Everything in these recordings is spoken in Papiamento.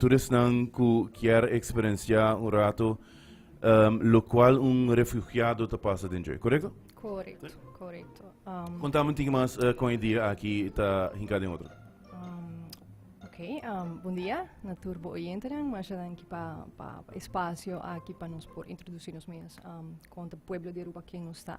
Tur esnan ku kier eksperensiá un ratu lokual un refugiado ta pasa den djoi, korekto? Korekto, korekto. Konta mi un tiki mas kon e dia aki ta hinká den otro. Ok, bon dia na tur bo oyentenan. Masha danki pa e spasio aki pa nos por introdusí nos mes kon ta pueblo di Aruba ken nos ta.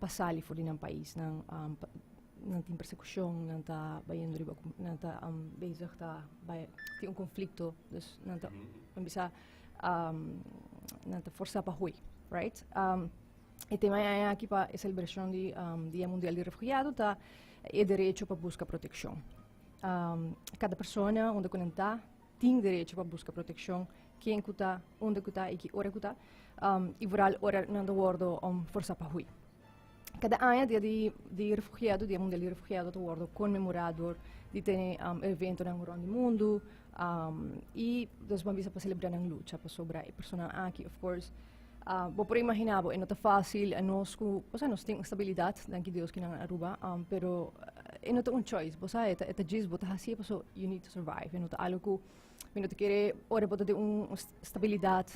pa sali for di nan pais nan nan tin persekushon nan ta bayendo riba nan ta bezig ta bay tin un konflikto dus nan ta nan bisa nan ta forsa pa hui right e tema e aña aki pa e selebrashon di dia mundial di refugiado ta e derecho pa buska protekshon kada persona unda ku nan ta. tin derecho pa buska protekshon ken ku ta, unda ku ta i ki ora ku ta, i vooral ora nan ta wordo forsá pa hui. Kada aña Dia di Refugiado, Dia Mundial di Refugiado, ta wordo konmemorá dor di tene eventonan rònt di mundu i nos ban bisa pa selebrá nan lucha pasobra e personanan aki, of course, Bo por a imaginá bo, e no ta fásil nos ku, osea nos tin un stabilidat, danki Dios kinan a Aruba, pero e no ta un choice, bo sa, e ta djis bo ta hasié paso you need to survive, e no ta algo ku mi no ta kere ora bo ta den un stabilidat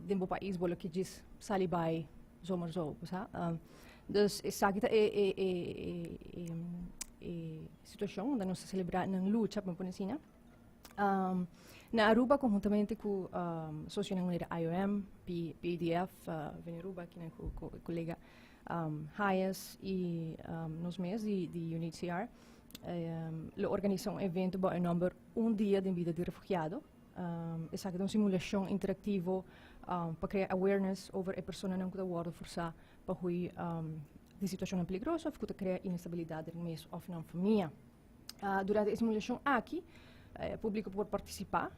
den bo pais bo lo ke djis sali bai zomer zo, bo sa. Dus esaki ta e situashon unda nos ta selebrá nan lucha, po me pone asina. na Aruba konhuntamente ku sosionan manera IOM, PADF, Veneruba kinan ku kolega Hayes i nos mes di UNHCR lo organisá un evento bou e nòmber Un dia den bida di refugiado. Esaki ta un simulashon interaktivo pa krea awareness over e personanan ku ta wòrdu forsá pa hui di situashonnan peligroso òf ku ta krea inestabilidat den mes òf nan famia. durante e simulashon aki e publiko por partisipá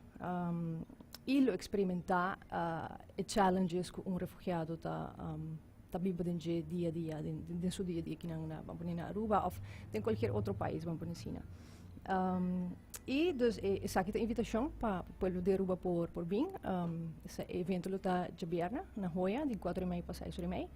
i lo eksperimentá e challenges ku un refugiado ta ta biba den dje dia a dia den su dia a dia kinan na ban pone na Aruba òf den kualkier otro pais ban pone asina i dus esaki ta invitashon pa pueblo di Aruba por bin e evento lo ta djabièrnè na Hoya di kuater di mei pa seis ora di mei.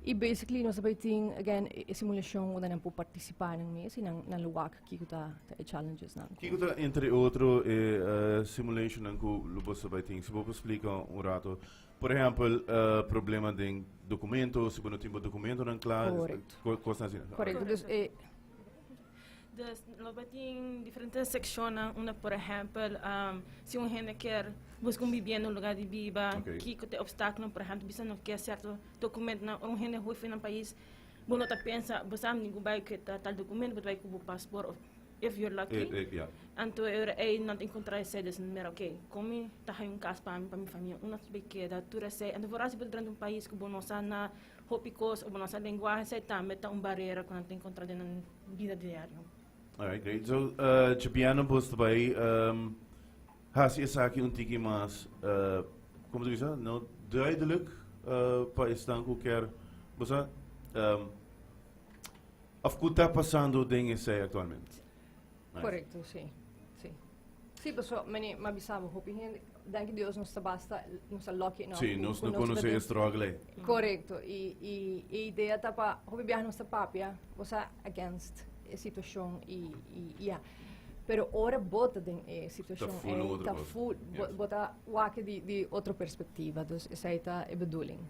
Y basically nos ta bay tin again e simulacion unda nan por participa nan mes y nan nan lo wak kico ta e challenges nan. Kico ta entre otro e simulation nan cu lo boso ta bay tin? Si bo por splica un rato. Por ehempel problema den documento, si bo no tin bo documentonan cla, cosnan asina. Correcto. Correcto. Dus e. Dus lo bai tin diferente sekshonnan unda por ehèmpel si un hende kier buska un bibienda, un lugá di biba, kiko ta e opstákulonan, por ehèmpel bisa no ke sierto dokumentunan ora un hende hui fu nan pais bo no ta pensa bo sa mindi ku bai ku e tal tal dokumentu bo ta bai ku bo pasport of if yor lucky anto e ora ei nan ta enkontrá esei dus nan mira okay kon mi ta haña un kas pa mi pa mi famia unda ta bai keda tur esei anto for a si bo ta drenta un pais ku bo no sa na Hopi cos como nos lenguaje esey tambe ta un barera cu nan ta encontra den nan bida diario. Alright, great. So, uh, Chipiano Bus ta bay um, hasi esaki un tiki mas, uh, como te bisa, no duidelijk uh, pa estan ku ker, busa, um, of ku ta pasando den esey actualmente? Korekto, si. Si. Si, pasobra mane m'ha bisa bo, hopi hende, danki Dios, nos ta basta, nos ta lucky enough. Si, nos ku no nos ta konosé e den- struggle ei. Korekto. I, i e idea ta pa, hopi biaha nos ta papia, bo sa against e situashon i, i, i ya. Pero ora bo ta den e situashon full ei, otro ta cosa. full, bo, Yes. bo ta wak di, di otro perspektiva. Dus esei ta e bedoeling.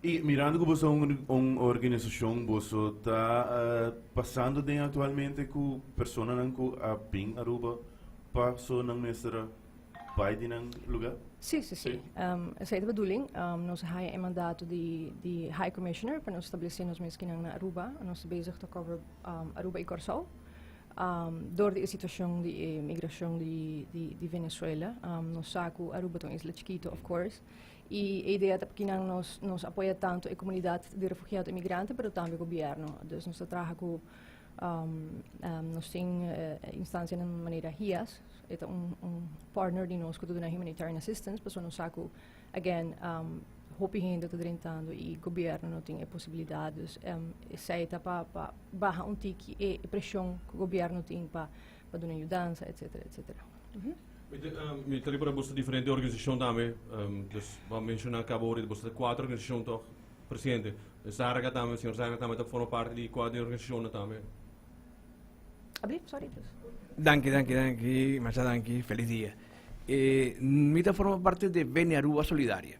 Y mirando cu boso un organisacion boso ta pasando den actualmente cu personanan cu a bin Aruba pa so nan mester a bay di nan lugar? Sí, sí, sí. Um, esa es bedoeling. Um, nos haya e mandato di, di High Commissioner para nos establecer nos miskinan na Aruba. Nos te bezig te cover um, Aruba y Curaçao. Um, door di e situacion di e migracion di, di, di Venezuela. Um, nos saco Aruba ton isla chiquito, of course. Y e idea ta poki nan nos nos apoya tanto e comunidad di refugiado y migrante pero tambe gobierno. Dus nos ta traha cu nos tin instancianan manera HIAS, e ta un un partner di nos cu ta duna humanitarian assistance pasobra nos sa cu again hopi hende ta drentando y gobierno no tin e posibilidad. Dus esey ta pa pa baha un tiki e presion cu gobierno tin pa. pa duna yudansa etcetera etcetera. Mi ta riba boso diferente organisacion tambe dus bo menciona cabo ori boso ta cuatro organisacion toch presidente zarga tambe señor zarga tambe ta forma parti di cua di organisacionnan tambe. Abli sorry pues. Danki danki danki machado danki feliz dia. Mi ta forma parti di Beni Aruba Solidaria.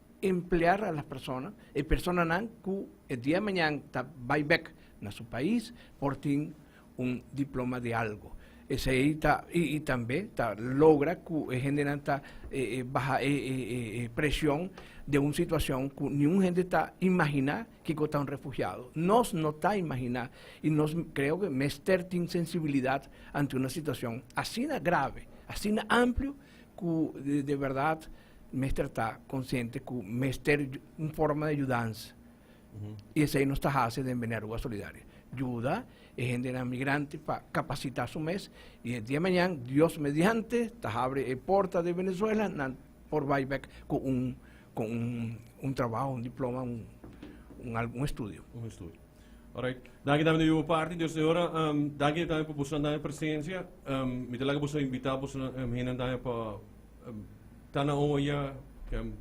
emplear alas persona, e personanan cu e dia mañan ta bay bek na su pais por tin un diploma di algo. Esey ta, y, y tambe ta logra cu e hendenan ta baha e, e, e, e presion den un situacion cu ni un hende ta imagina kico ta un refugiado. Nos no ta imagina y nos creo que mester tin sensibilidad ante una situacion asina grave, asina amplio cu de, de verdad, mester ta konsiente ku mester un forma di yudans i esei nos ta hasi den Bini Aruba Solidario. Yuda e hendenan migrante pa kapasitá su mes i e dia mañan, Dios mediante, ta habri e porta di Venezuela, nan por bai bèk ku un ku un trabaho, un diploma, un algu, un estudio. Un estudio. Orait. Danki tambe di yu parti. Dios te ora. Danki tambe pa bosonan tambe presensia. Mi ta laga boso invitá bosonan, hende tambe pa ta na oña ken.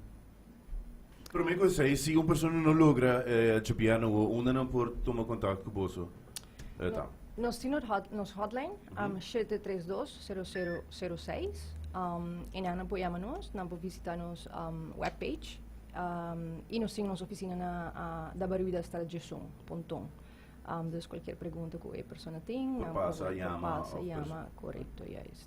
Prome ku esei si un persona no logra tchipia na wou unda nan por tuma kontakt ku boso ta? Nos tin nos hotline shete tres dos sero sero sero seis i nan por yama nos nan por visita nos web page i nos tin nos ofisina na dabaruidastraat djesun Pontón dus kualkier pregunta ku e persona tin nan por pasa yama korekto yais.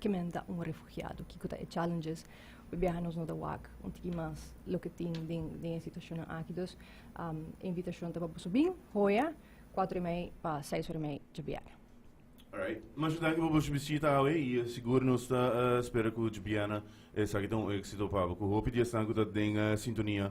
Ke men ta un refugiado? Kiko ta e challenges? Bo biaha nos no ta wak un tiki mas loke tin den den e situashonnan aki. Dus e invitashon ta pa boso bin hoya kuater i mei pa seis ora i mei djabiera. Alright. Masha danki pa boso bisita awe i sigur nos ta spera ku djabiera esaki ta un éksito pa bo ku hopi di esnan ku ta den sintonia